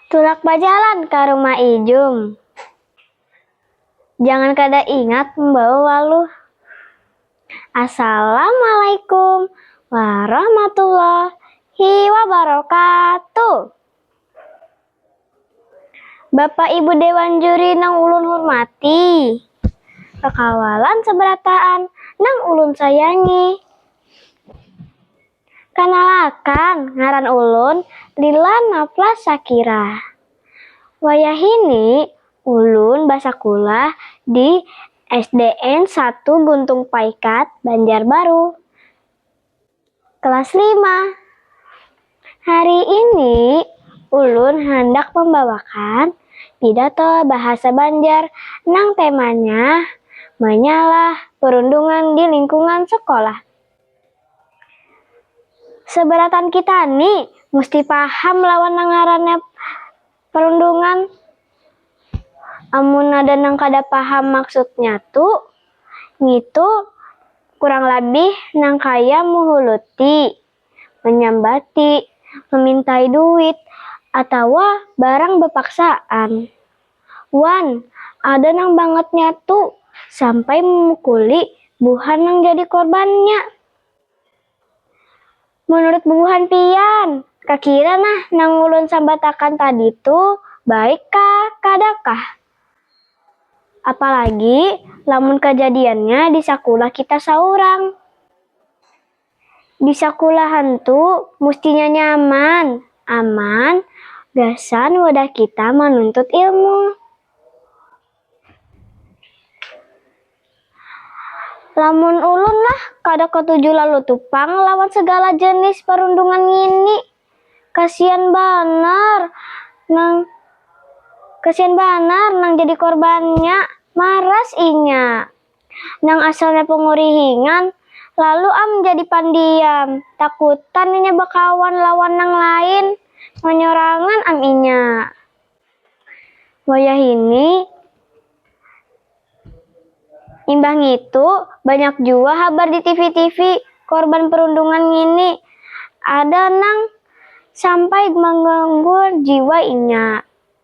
Tulak bajalan ka rumah ijum. Jangan kada ingat membawa waluh. Assalamualaikum warahmatullahi wabarakatuh. Bapak Ibu Dewan Juri nang ulun hurmati. Kakawalan sabarataan nang ulun sayangi. Kanalakan, ngaran ulun Lila Nafla Shakira. Wayahini ulun basakulah di SDN satu Guntung Paikat, Banjarbaru, kelas lima. Hari ini ulun handak mambawakan pidato bahasa Banjar nang temanya Manyalah Perundungan di Lingkungan Sekolah. Seberataan kita ni musti paham lawan nang ngarannya perundungan. Amun ada nang kada paham maksudnya tu, ngitu kurang labih nang kaya muhuluti, manyambati, mamintai duit, atawa barang bapaksaan. Wan, ada nang bangatnya tu sampai memukuli buhan nang jadi korbannya. Menurut bubuhan pian, kakira nah nang ulun sambatakan tadi tu baik kah kada kah? Apalagi lamun kajadiannya di sakulah kita saurang. Di sakulahan tu mustinya nyaman, aman gasan wadah kita manuntut ilmu. Lamun ulun lah kada katuju lalu tu pang lawan segala jenis parundungan ngini. Kasian banar nang kasian banar nang jadi korbannya, maras inya. nang asalnya pangurihingan, lalu am jadi pandiam, takutan inya bakawan lawan nang lain, manyorangan am inya. Wayahini, imbah ngitu banyak jua habar di tivi-tivi korban perundungan ngini, ada nang sampai mangganggu jiwa inya.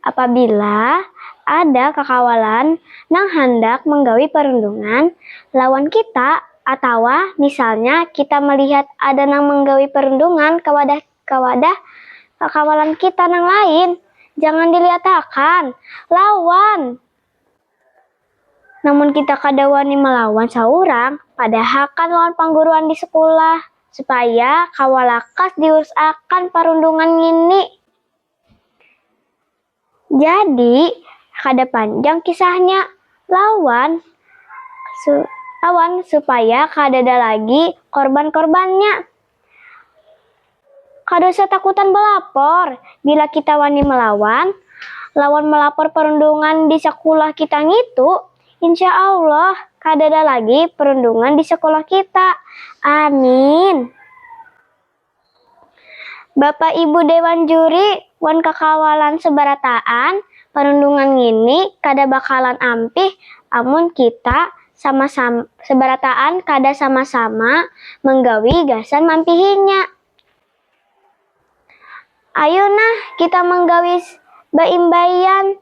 Apabila ada kakawalan nang handak manggawi parundungan lawan kita atawa misalnya kita malihat ada nang manggawi parundungan ka wadah ka wadah kakawalan kita nang lain, jangan dilihatakan, lawan! Namun kita kada wani malawan saurang, padahakan lawan pangguruan di sekulah, supaya kawa lakas diurus akan parundungan ngini. Jadi, kada panjang kisahnya, lawan supaya kadada lagi korban-korbannya. Kada usah takutan balapor, bila kita wani malawan lawan malapor parundungan di sakulah kita ngitu, insya Allah kadada lagi parundungan di sakulah kita. Amin. Bapak Ibu Dewan Juri wan kakawalan sebarataan, panundungan ngini kada bakalan ampih amun kita sama sebarataan kada sama-sama manggawi gasan mampihinya. Ayu nah kita manggawi baimbaian,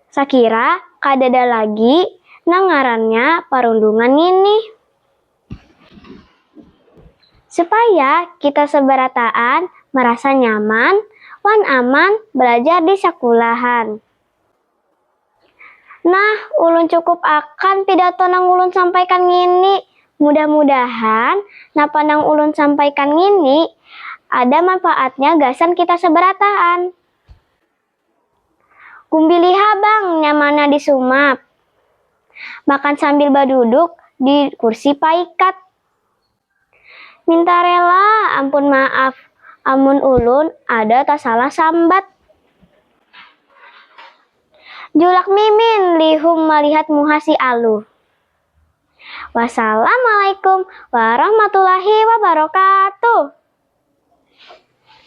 sakira kadada lagi nang ngarannya parundungan ngini. Supaya kita sabarataan marasa nyaman wan aman balajar di sakulahan. Nah, ulun cukup akan pidato nang ulun sampaikan ngini. Mudah-mudahan napa nang ulun sampaikan ngini ada manfaatnya gasan kita sabarataan. Kumpili ha bang nya mana di sumap. Makan sambil baduduk di kursi paikat. Minta rela ampun maaf amun ulun ada tasalah sambat. Julak mimin lihum malihat muha si aluh. Wassalamualaikum warahmatullahi wabarakatuh.